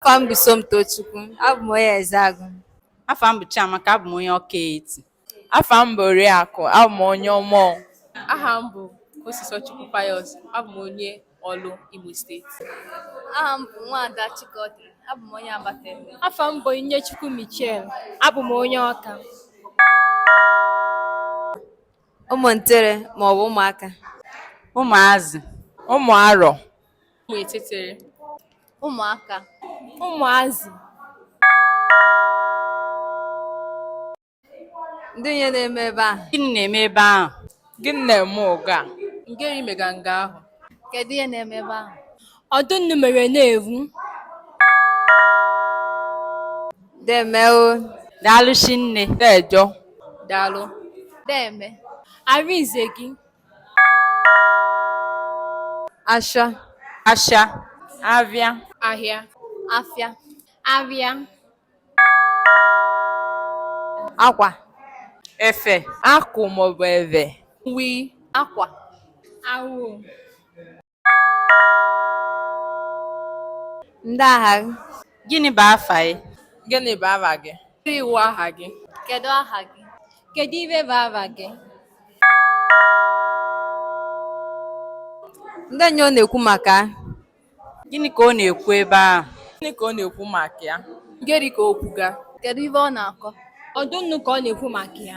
Afa m bụ Somtochukwu, abụ m onye Ezeagụ. Afa m bụ Chiamaka, abụ m onye Ọka Etiti. Afa m bụ Oriakụ, abụ m onye Ọmọ. Aha m bụ Kosisochukwu Pius, abụ m onye Ọlụ, Imo Steeti. Aha m bụ Nwaada Chikọdị, abụ m onye Abatete. Afa m bụ Onyinyechukwu Michel, abụ m onye Ọka. Ụmụntere maọbụ ụmụaka. Ụmụazị. Ụmụ arọ. Ụmụ etịtịrị. Ụmụaka. Ụmụazị. Ndị ihe na-eme ebe ahụ. Gịnị na-eme ebe ahụ? Gịnị na-eme oge a? Ngịrị mega nga ahụ. Kedu ihe na-eme ebe ahụ? Ọdụ nnu mere na-ewu. Deeme o. Daalụ shinne. Deeje o. Daalụ. Deeme. Arinze gị. asha asha avịa ahịa afịa avịa akwa efe akwụ maọbụ eve uwe akwa awụ Ndị aha gị? Gịnị bụ afa gị? Gịnị bụ afa gị? Kedu ihe wụ aha gị? Kedu aha gị? Kedu ive bụ afa gị? Ndị ihe ọ na-ekwu maka? Gịnị ka ọ na-ekwu ebe ahụ? Gịnị ka ọ na-ekwu maka ya? Ngịrị ka o kwuga? Kedu ife ọ na-akọ? Ọdụ nnu ka ọ na-ekwu maka ya.